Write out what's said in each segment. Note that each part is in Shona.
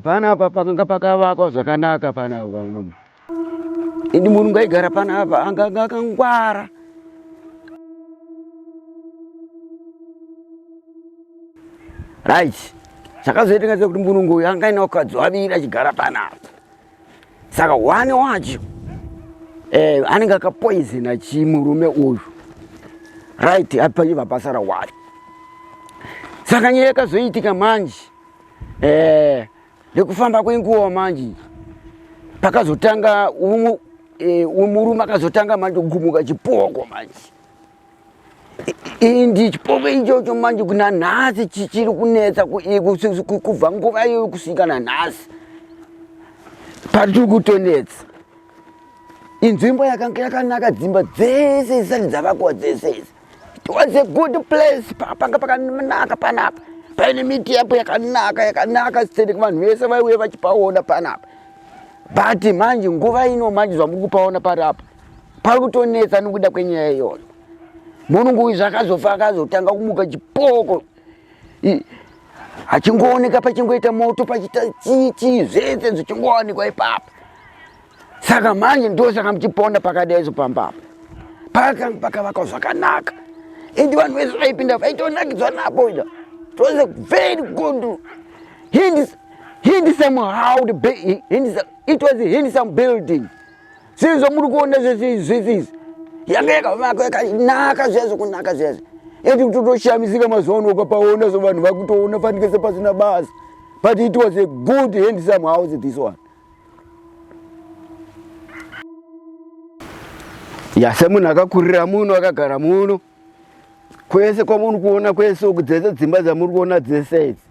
panapa pakanga pakavakwa zvakanaka panapa indi murungu aigara panapa anganga akangwara right chakazoita ngaze kuti mbunungu uyu anga ina ukadzi waviri achigara panapa saka one wacho eh, anenge akapoizina chimurume uyu right apayiva basa rawari saka nyaya yakazoitika manje eh, nekufamba kwenguva manje pakazotanga eh, murume akazotanga manje kugumuka chipoko manje indi chipoko ichocho manje kuna nhasi chichiri kunetsa kubva nguva iyoyo kusvika nanhasi patiri kutonetsa inzvimbo yakanga yakanaka dzimba dzese dzisati dzavakuwa dzese idzi it was a good place panga pakanaka panapa paine miti yapo yakanaka yakanaka sitendeke vanhu vese vaiuye vachipaona panapa but manje nguva ino manje zvamuri kupaona pari apa pari kutonetsa nokuda kwenyaya iyoyo munungu uyu zvakazofa akazotanga kumuka chipoko achingooneka pachingoita moto pachita chichi zvese zvichingowanikwa ipapa saka manje ndosaka muchipona pakadaizo pambapa pakanga pakavakwa zvakanaka ende vanhu vese vaipinda vaitonakidzwa napo ida tose very good hindi hindi samuhowd hindi it was hindi some building Sezvo muri kuona zvese izvi yanga yakavakwa yakanaka zviya zvekunaka zviya zvi ende kutotoshamisika mazuva ano ukapaona so vanhu vakutoona fanike sepasina basa but it was a good handsome house this one ya semunhu akakurira muno akagara muno kwese kwamuri kuona kwese uku dzese dzimba dzamuri kuona dzese idzi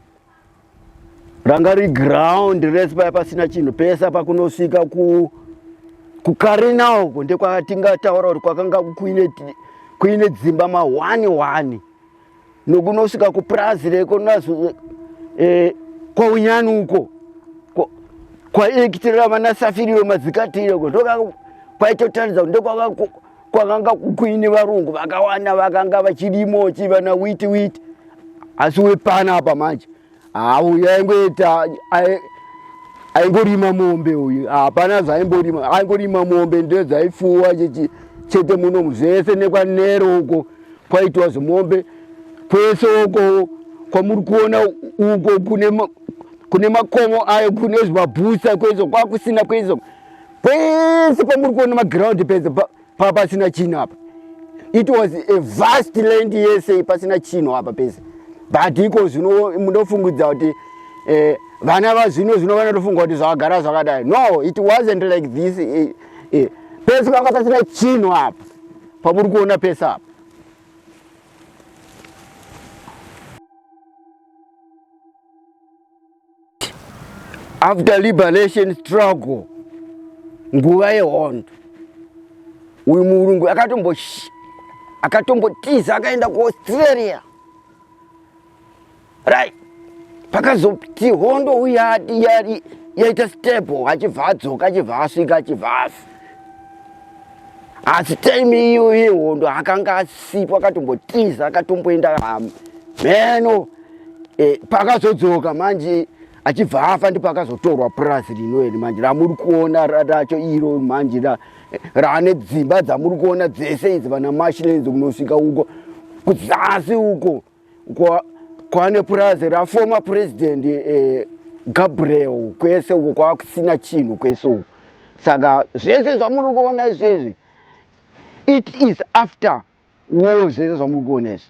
ranga ri ground rese paya pasina chinhu pesa pakunosvika ku kukarina uko ndekwatingataura kuti kwakanga kuine kuine dzimba mahwani hwani nokunosvika kupurazi reko nazo eh, kwaunyani uko kwaekitirira vana safiriyo madzikatire uko ndoka kwaitotaridza kuti ndokwaka kwakanga kuine varungu vakawanda vakanga vachidimo chivana witi witi asi wepana apa manje hauyu aingoita aingorima mombe uyu hapana zvaimborima aingorima mombe ndo dzaifuwa chete muno muzvese nekwanero uko kwaitiwa zvemombe kwese uko kwamuri kuona uko kune makomo ayo kune zvimabhusa kwezvo kwakusina kwezvo Pese pamuri kuona maground pese pasina chinhu apa. It was a vast land yese pasina chinhu apa pese. But iko zvino munofungudza kuti eh, vana vazvino zvino vanotofunga kuti zvakagara zvakadai. No, it wasn't like this. Eh, eh. Pese panga pasina chinhu apa. Pamuri kuona pese apa. after liberation struggle nguva yehondo uyu murungu akatombo akatombotiza akaenda kuaustralia right pakazoti hondo uya yaita stable achibva adzoka achibva asvika achibva asi asi time iyo yehondo akanga asipo akatombotiza akatomboenda hama meno e, eh, pakazodzoka manje achibva afa ndipo akazotorwa purazi rino iri manje ramuri kuona racho iro manje eh, raane dzimba dzamuri kuona dzese idzi vana mashilenzi kunosvika uko kuzasi uko kwane purazi raformer president eh, gabriel kwese uko kwakusina chinhu kwese uko saka zvese zvamuri kuona izvezvi it is after war zvese zvamuri kuona izvi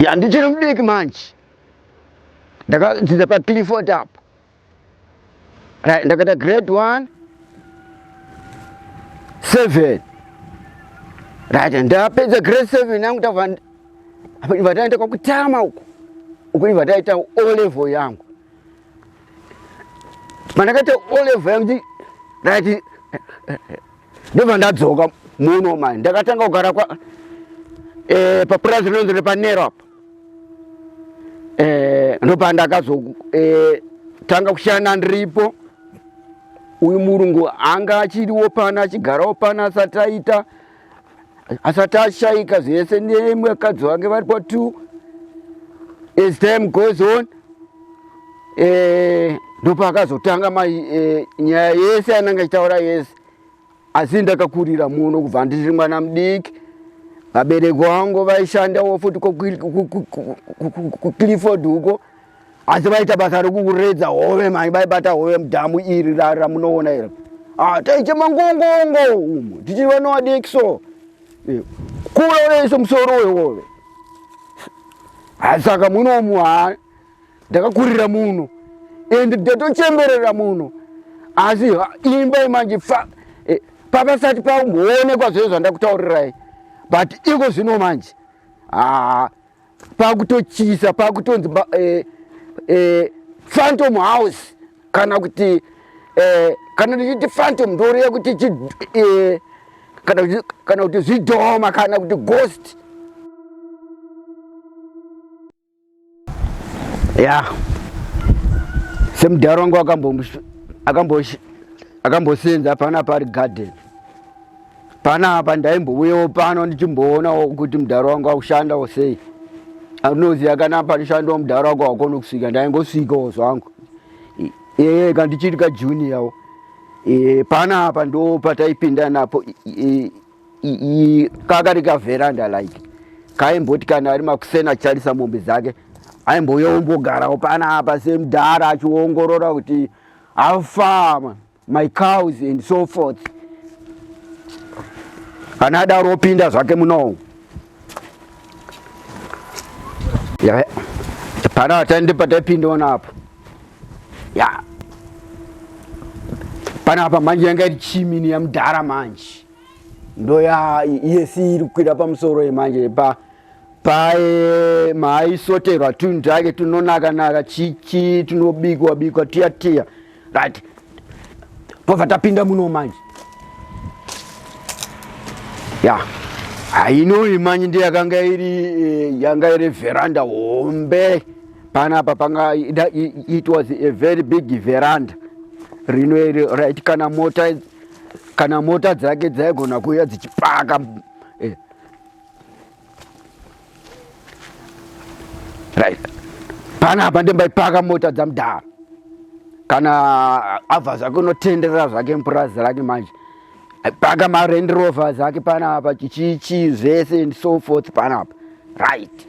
ya ndichiri mudiki manje ndakadzidza pacliford apo ndakaita grade one seven right ndapedza grade seven yangu tava apa iva taita kwakutama uku uku iva taita o level yangu pandakaita olevel yangu ndakati ndobva ndadzoka muno mani ndakatanga kugara kwa eh, papurazi rinonzi repanero apa eh, ndopa ndakazotanga eh, kushanda ndiripo uyu murungu anga achiriwo pana achigarawo pana asati aita asati ashaika zvese nemwe akadzi vange vari pa two as time goes on eh, ndopaakazotanga ma eh, nyaya yese yananga achitaura yese asi ndakakurira muno kubva ndiri mwana mudiki vabereki wangu vaishandawo futi kucliford uko asi vaita basa rekuredza hove mani vaibata hove mudhamu iri ramunoona iri ah, taiche mangongongo umu tichivanoadekso eh, kura unaiso musoro wehove asaka munomu ha ndakakurira muno and ndatochemberera muno asi imba imanje eh, papasati paumboonekwa zvezvo zvandakutaurirai but iko zvino manje haa ah, pakutotyisa pakutonzi eh, eh, phantom house kana kuti eh, kana tichiti phantom ndoreva kuti eh, kana kuti zvidhoma kana kuti ghost ya yeah. semudhara wangu akambosenza akambo, akambo pano pari garden Panapa ndaimbouyawo pano ndichimboonawo kuti mudhara wangu akushandawo sei. Anoziva kana panoshandawo mudhara wangu wakona kusvika ndaingosvikawo zvangu. Ehe kandichiri kajuniyawo. E, panapa ndo pataipinda napo kakari kavheranda like kaimboti kana ari makuseni acharisa mombe dzake aimbouya ombogarawo panapa semudhara achiongorora kuti how far my cows and so forth kana adaro opinda zvake munowo yeah. pana atande pataipinda ona apa ya pana apa manje yanga iri chimini yamudhara manje ndo ya yesi iri kukwira pamusoro yemanje pa paye maaisoterwa tunhu take tunonaka naka chichi tunobikwa bikwa tiya tiya right tobva tapinda muno manje ya hainoi manje ndi yakanga iri eh, yanga iri veranda hombe panapa panga it was a very big veranda rino iri right kana mota kana mota dzake dzaigona kuuya dzichipaka right panapa ndimbaipaka mota dzamudhara kana abva zvake unotenderera zvake mupurazi rake manje paka marend rover zake panapa chichichi zvese and so forth panapa right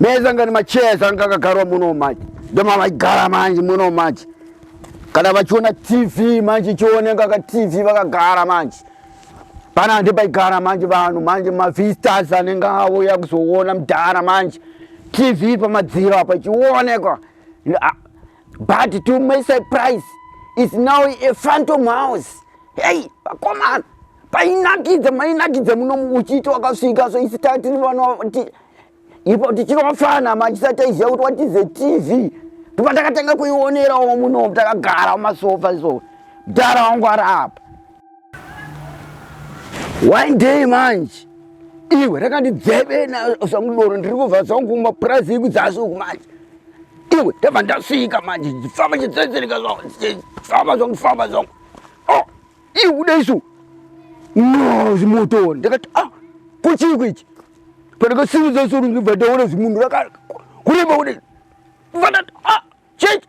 meza ngani macheza anga akagarwa muno manje ndomavaigara manje muno manje kana vachiona tv manje chioneka ka tv vakagara manje pana ndipaigara manje vanhu manje mavistas anenge auya kuzoona mudhara manje tv pamadziro apa ichionekwa but to my surprise is now a phantom house hey vakomana painakidza mainakidza muno uchiita wakasvika so isi tatiri vana ipo tichiri vafana machisati taiziva kuti what is a tv tipa takatanga kuionerawo muno takagara mumasofa so mdara wangu ari apa one day manje iwe rakandidzeve nasamudoro ndiri kubva zangu mapurazi yiku dzasuku manje iwe ndabva ndasvika manje ndifamba chitsetsereka zvangu ndifamba zvangu ndifamba zvangu o oh, iwe ude isu no zimotoni ndakati a ah, kuchii kuichi pandakasimudza suru ndibva ndaona zimunhu rakareba ude ndibva ndati a ah, chechi